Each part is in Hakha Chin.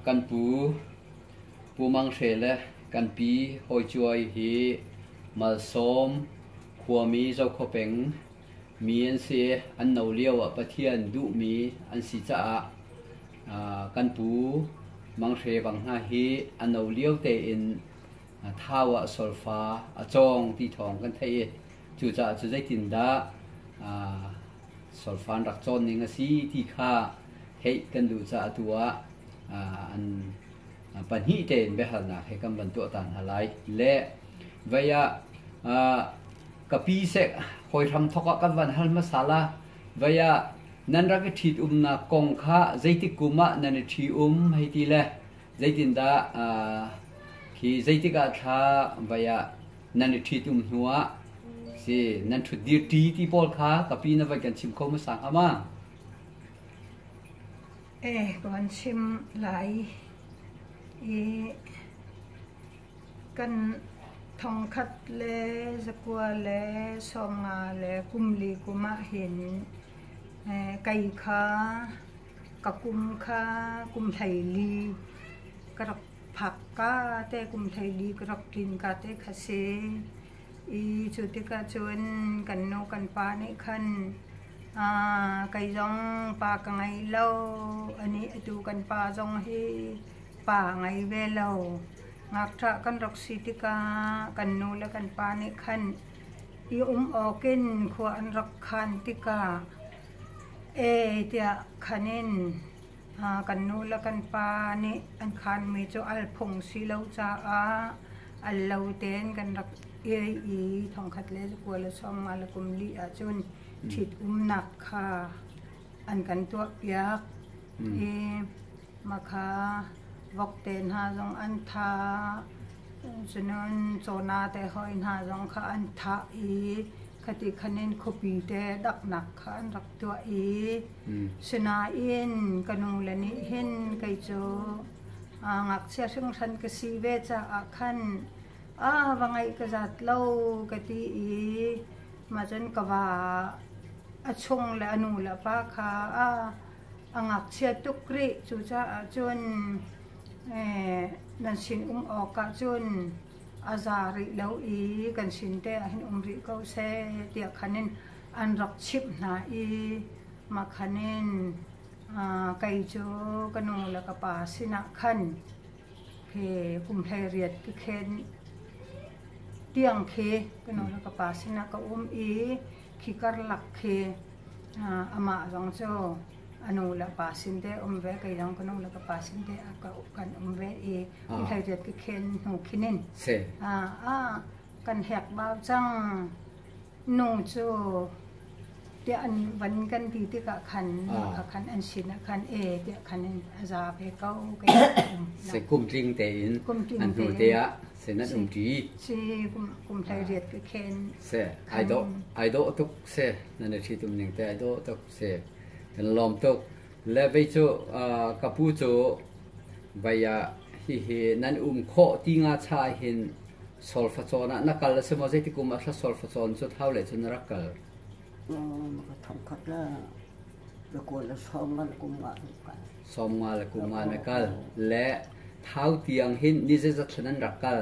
Kan pu Pu Mang Hre le kan pi Hawi Cuai hi Malsawm khuami Zokhua peng mi an si i an no lio ah Pathian duhmi an si caah kan pu Mang Hre bang hna hi a no lio tein thau ah solfa a cawng ti thawng kan theih i Cucaah cu zeitindah solfan rak cawn ning a si ti kha theih kan duh caah atu ah an pahnih tein biahalnak he kan van tuah ta hna lai. Le vei ah ka pi sek hoi hram thok ah kan van hal hmasa la vei ah nan rak i ṭhit umnak kong kha zeitik kum ah nan i ṭhi um hei ti le zeitindah khi zeitik ah thla vei ah nan i ṭhitum hnuah si nan ṭhut dir ṭi ti pawl kha ka pi na vai kan chim kho masang ama e ko an chim lai i kan thongkhat le zakua le songa le kumli kuma hin kai kha ka kum kha kum hlei li ka rak Phak ka te kum thei dik rak tlin ka te kha si i cu tikah cun kan nu kan pa nih khan aa kei zong pa ka ngei lo a nih atu kan pa zong hi pa ngei ve lo. Ngakṭah kan rak si tikah kan nu le kan pa nih khan i um awk in khua an rak khan tikah ee tiah khan in Kan nu le kan pa nih an khanmi cu al phung si lo caah al lo tein kan rak ei i thongkhat le kua le sawmnga le kum li ahcun ṭhitumnak kha an kan tuahpiak i makha vok te hna zong an thah, cunun cawna te hawi hna zong kha an thah i khati khan in khuapi te daknak kha an rak tuah i Sinain ka nule nih hin kei cu ngakchia hringhran ka si ve caah khan a va ngaih ka zat lo ka ti i mahcun ka va a chung le a nu le pa kha a ngakchia tuk rih. Cucaah cun nan sinum awkah cun a za rih lo i kan sin te ah hin um rih ko seh tiah khan in an rak chimh hna i makhan in kei cu ka nu le ka pa sinah khan he kum hleiriat ka khen tiang khi ka nu le ka pa sinah ka um i khi karlak khi amah zong cu a nu le pa sin te um ve kai zong ka nu le ka pa sin te kan um ve i kum hleiriat ka khen hnu khinin a kan hekbau cang. Nung cu tiah an van kan ti tikah khan lehkha khan an sinah khan e tiah khan in a za ve ko kei ka um lo. Se kum tling tein Kum tling an tu te tein. ah senat um ṭi Si kum, kum hlei riat ka khen. se ai dawh ai dawh tuk se nan ṭhi tum ning te ai dawh tuk se kan lawm tuk Le vei cu ka pu cu vei ah hihi nan um khawh ti nga cha ah hin solfacawn ah na kal a si maw zeiti kum ah thla solfacawn cu thau le cun rak kal. Ka thongkhat la na kual na som ngan kum nga na kal. Som nga le kum nga na kal le thau tiang hin ni zeizat thlen an rak kal.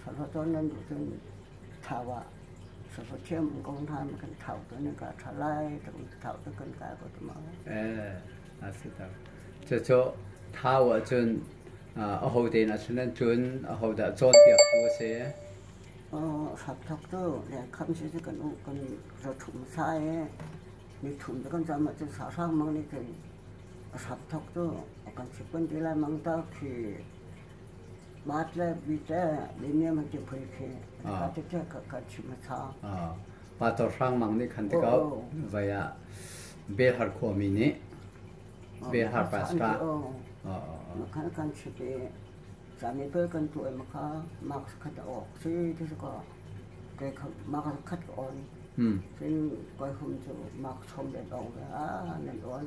Sahlawh tawn nan duh cun thau ah sahlawh thiam an kong hna kan thau tu nan ka tha lai tu thau tu kan ka ko tu ma eh a si ta cho cho thau ah cun a ho te na sunan cun a ho da cawn tiak tu a si oh sap thok tu le kham si kan u kan ra thum sai mi thum kan jam ma chu sa sang mang ni tin sap thok tu kan si kun ti lai mang ta khi Mah tle mi te le ne man te phoi khi ka te te ka ka chim tha. Ah pa tor hrang mang nih khan tikau vaya be har kho mi nih be har pastra kan kan chite sami pe kan tu em kha max khat ok si this ko ke max khat on sin koi hum chu max hom de dong a nan on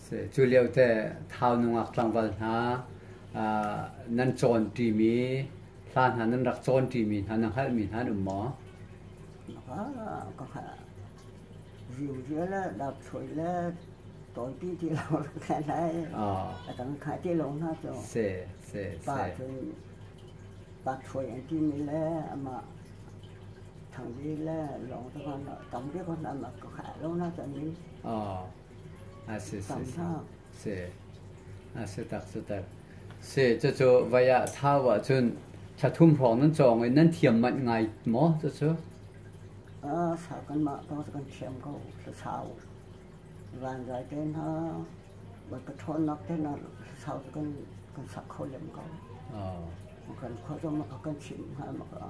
Cu lio te thau nungak tlangval hna nan cawn ṭimi hla hna nan rak cawn ṭimi hna na hngalhmi hna an um maw? Ka hngal. Riumrial le dapchuai le tonpi ti lo rak lai. A kan khai ti lo hna cu. Se, se, se. Pa cun dapchuai an timi le amah thangdi le lawng te kan tam bi ko hna mak ka hngal lo hna cu ni. Cucu vai ah thau ahcun thla thum hrawng nan cawng i nan thiam manh ngai maw cucu? Sa kanmah ko kan thiam ko sau. Van zai te hna wat ka ṭhawnnak te hna sau kan kan sak kho lem ko. Kan khua zong maka kan chim hna maka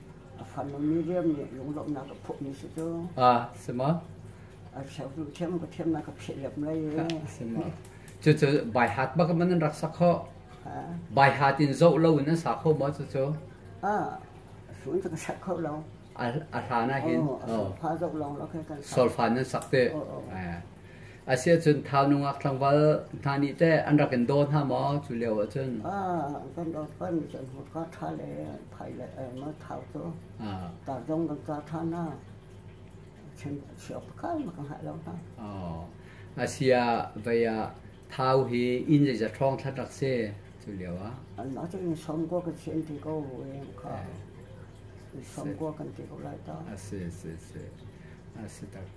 A fanumi riam nih lunglawmhnak a phuhmi si cu. Ah, sima. A cheu thiam ka thiam na ka pheh lem lai. Sima. Cucu bai hat bak man rak sak ho. Bai hat in zo lo in sa kho ma cucu. Ah, sun ka sak kho lo. A hla na hin. Oh, a solfa zo long lo kai kan. Solfa nan sak te. Oh, oh. Asiahcun thau nungak thlangval hna nih teh an rak in daw hna maw? Cu lio ah cun kan rak pan cun hmurka ṭha le thai le thau cu tar zong kan ca ṭhan hna. Siop kal ma kan hal lo hna. Asia vei ah thau hi inn zeizat hrawng thlat rak si cu lio ah? Anmah cu in somko kan si an ti ko kha. In somko kan ti ko lai ta. A si, si, si. A si tak.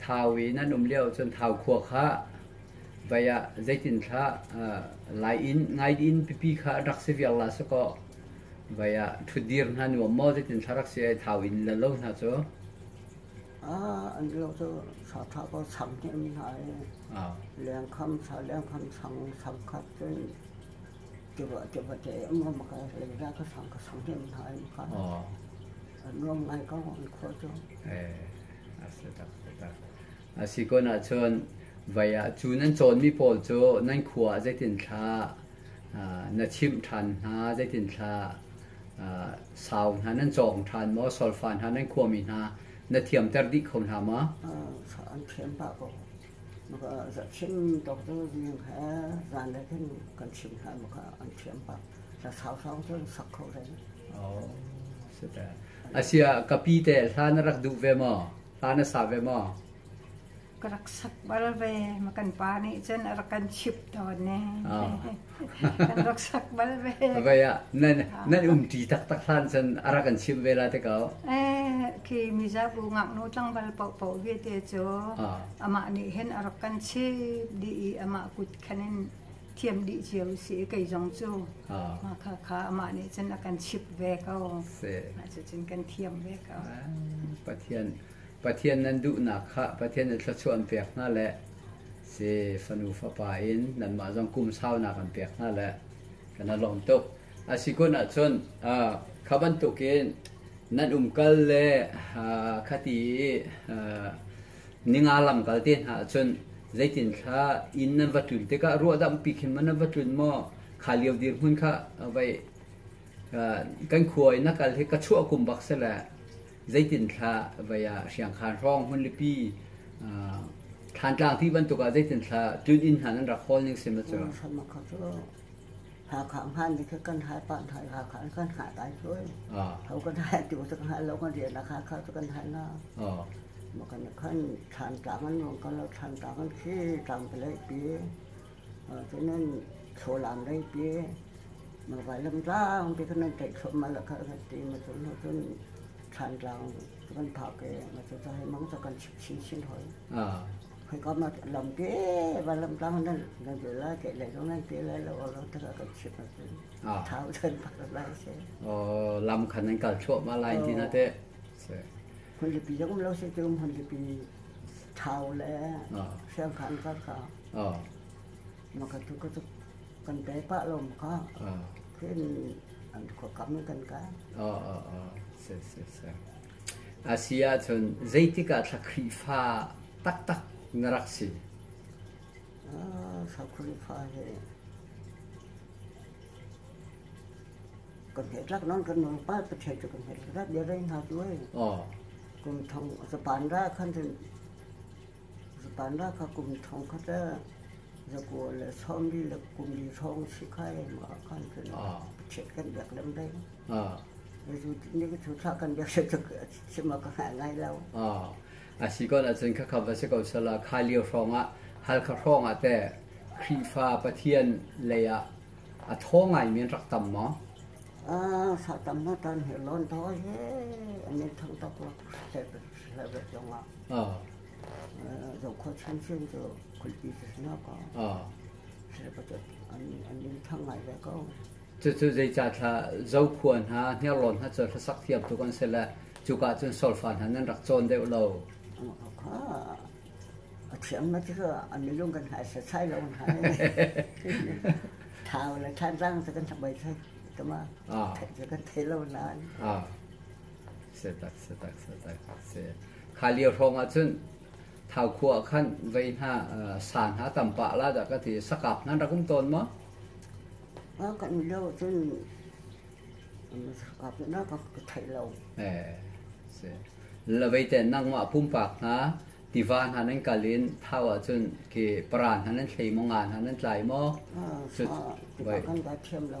thau in an um lio cun thau khua kha vai ah zeitin thlah lai in ngai in pipi kha an rak si viar la sakaw vai ah ṭhutdir hna nuam maw zeitin thlah rak si ai thau in la lo hna cu a an lo cu sa tha ko sam hnim hna i lengkham sa lengkham sang sam khat cun Tiruahtiruah te ngam ka hlei ra ka sang ka sang dem hna in ka an nuam ngai ka an khua cu. A setak setak. A si kun ahcun vai ah cu nan cawnmi pawl cu nan khua ah zeitin thla na chimh ṭhan hna zeitin thla sau hna nan cawng ṭhan maw solfa hna nan khuami hna na thiamter dih kho hna maw? An thiam pah ko. Maka ah hrim doctor he zan le khin kan chim hna maka an thiam pah. Sa sausang cun sak kho ding. Oh, sudah. Asia kapi te hlan rak duh ve maw? Hlan a sa ve maw? Ka rak sak bal ve. Makan pa nih cun a rak kan chip tawn ne. Oh. Kan rak sak bal ve. Vai ah nan umṭi taktak hlan cun a rak kan chimh ve la te ko. Eh, khi mizabu ngaknu tlangval pohpoh viete cu amah nih hen a rak kan chimh dih i amah kut khanin thiam dih cio si kei zong cu. Ma kha kha amah nih cun a kan chimh ve ko. Ma cu cun kan thiam ve ko. Pathian Pathian nan duhnak kha Pathian in thluachuah an pek hna le si fanu fapa in nanmah zong kum saunak an pek hna le kana lawm tuk asi kun ahcun uh, kha bantuk in nan umkal le uh, khati uh, ninga lamkal te hna ahcun zeitin thla in nan va tlun tikah ruah dam pi khin ma nan va tlun mo kha liu dir hmun kha vai kan khuai na kal hi ka chua kum bak se le zeitinthlah vai ah hriangkhan hrawng hmunlipi thantlang ti bantuk ah zeitinthlah tun inn hna nan rak hawl ning sim cu Hakha ngan ni kan hai pan hai Hakha kan ha dai thôi thâu kan hai tu tak hai lo kan riêng là Hakha tu kan hai na mà kan kan than tang an nuông kan lo than tang an khi tang pe lại pi Cun nan thlaw-laan rei pi, na vailamtlang pi kha nan tlaih thluahmah lah khah kan ti. Ma cun cun thlandlang cu kan phak i ma cu ca hi mang cu kan chit chinchin hoi. Hoi kam ah lam pi vailamtlang nan nan bil lai, keih lai lo nan pi lai lo, lam tu kha kan chit ma cun thau cun phak lai si. Lam kha nan kal thluahmah lai ti na teh. Hmunlipi zong lo si cu hmunlipi thau le hriangkhan kar kha Makatu ka cu kan pe pah lo maka. Khin an khuakam in kan ka. Se se se. A si ahcun zeitikah thla Khrihfa taktak na rak si? Thla Khrihfa he kan he rak non kan non pa pa thei kan he rak dia rai na tu ai. Kum thong zapan ra khan Zapanra kha kum thongkhat le zakua le sawmli le kumli hrawng si khai ma kan cun chiat kan biak lem dei. Zu ni cu thla kan biak le cu si ma ka ngai ngai lo. A si ko ahcun khakha va si ko sala khailio hrawngah halkha hrawngah te Khrihfa Pathian lei ah a thaw ngaimi an rak tam maw? A sa tam na tan hi lon thaw he an in thang tak lo. level tiongah zokhua hrimhrim cu kulpi tisna ko serpatat an an in thang ngai ve ko cucu zeicah thla zokhua hna hniarlawn hna cu hlasak thiam tuk an si le cuka cun solfa hna nan rak cawn deuh lo a thiam na cu an milung kan hai sa sai lo hai thau le than rang sa kan thamai sai tama kan thei lo nan Kha lio hrawng ah cun Thau khua ah khan vei hna sa hna tam pah la dah ka ti. Sakak nan rak um tawn maw? A kan lo cun sakak na ka theih lo. Eh, si. Lavei ten nangmah pumpak hna tiva hna nan kal in thau ah cun ke para hna nan thlei maw nga hna nan tlai maw? Kan ka thiam lo.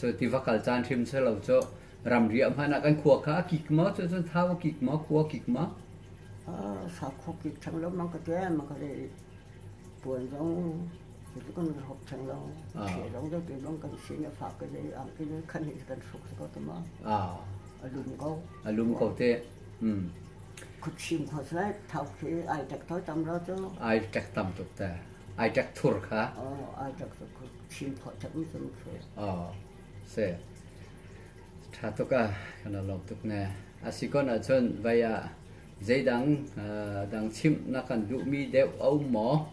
Cu tiva kal caan hrim si lo cu ramri ah hmanh ah kan khua kha a kik maw cu cun thau a kik maw khua a kik maw? Sakhu kik chang lo mang ka tian mang ka re puan zong itu kan hop chang lo thei long deu te bang kan sin a fak ke le am ke le khan hi kan suk ko ta ma a lum ko a lum ko te Kutsim kho seh, thau khi ai tek tho tam ro cu. Ai tek tam tuk te. Ai tek thur kha. Oh, ai tek thur kha. Sim kho tek mi zum khi. Oh, se. Tha tuk a, kana lop tuk ne. Asikon a chun, vaya, zeidang, dang chim na kan duh mi deu au mo.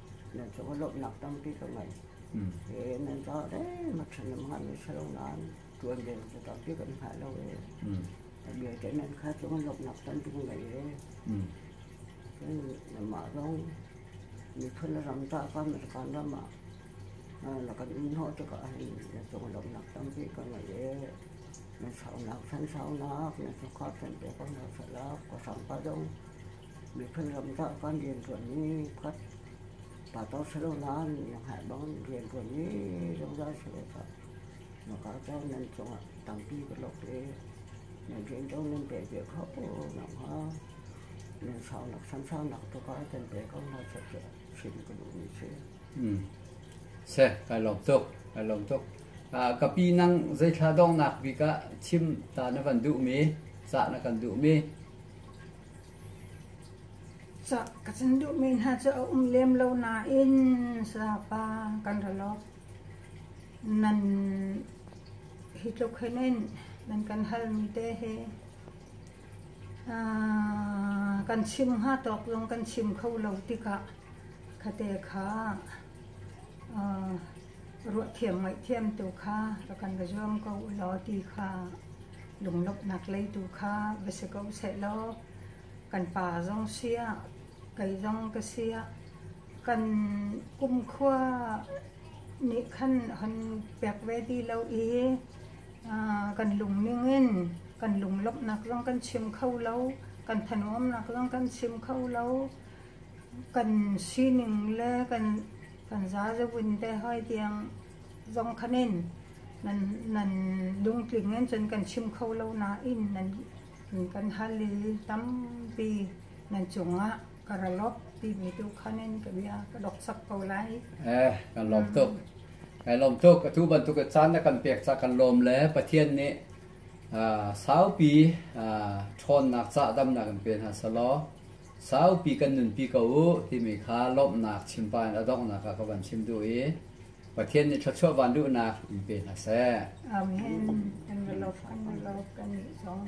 nan cung lawmhnak tampi ka ngei. Mm. E, nan caah deng a ṭhan am ngan si lo nain ṭuan ve cu tampi kan hngah lo e. Mm. Vialte nan kha cung lawmhnak tampi ka ngei e. Mm. Cun mah zong miphun ram ta kan kan ram ah na kan in hawh tikah hin na cung lawmhnak tampi ka ngei e. Na saunak san saunak na sukhap san pe ko na salak ko sangpa zong Miphun ram tah kan rianṭuan mi khat pato si lo nain na hngalh bangin rianṭuan mi zungzal si ve ko. Na kal ko nan cungah tampi ka lok i nan rian ṭuan nan pek ve kho nak hnga nan saunak sansaunak tu ka kan pe ko hna sat cu chim ka duhmi si. Seh, kai lawm tuk, kai lawm tuk. Uh, ka pi nang zeithla dongnak bik ah chim ta na van duhmi, cah na kan duhmi. Cah ka can duhmi hna cu a um lem lo nain Sapa kan ra lawk. Nan hi tluk hin in nan kan halmi te hi aa kan chim hnga tawk zong kan chim kho lo tikah kha te kha aa Ruahthiam ngaihthiam tu kha ka kan ka zuam ko ulaw ti kha lunglawmhnak lei tu kha va si ko sehlaw kan pa zong siah kei zong ka siah kan kumkhua nih khan hon pek ve ti lo i kan lungning in kan lunglawmhnak zong kan chim kho lo, kan thanuamnak zong kan chim kho lo. Kan sining le kan kan zazabun te hoi tiang zong khan in nan nan lungtling in cun kan chim kho lo nain nan kan hal i tampi nan cungah ka ralop timi tu khan in ka bia ka doksak ko lai eh kan lawm tuk kan lawm tuk atu bantuk caan na kan pek ca kan lawm le pathian nih saupi ṭhawnnak ca damnak kan pe hna selaw Saupi kan nunpi ko u timi kha lawmhnak chimpah in a donghnak ah ka van chim duh i Pathian nih thluachuah van duhnak in pe hna seh. Amen. And the love and the love kan i zong.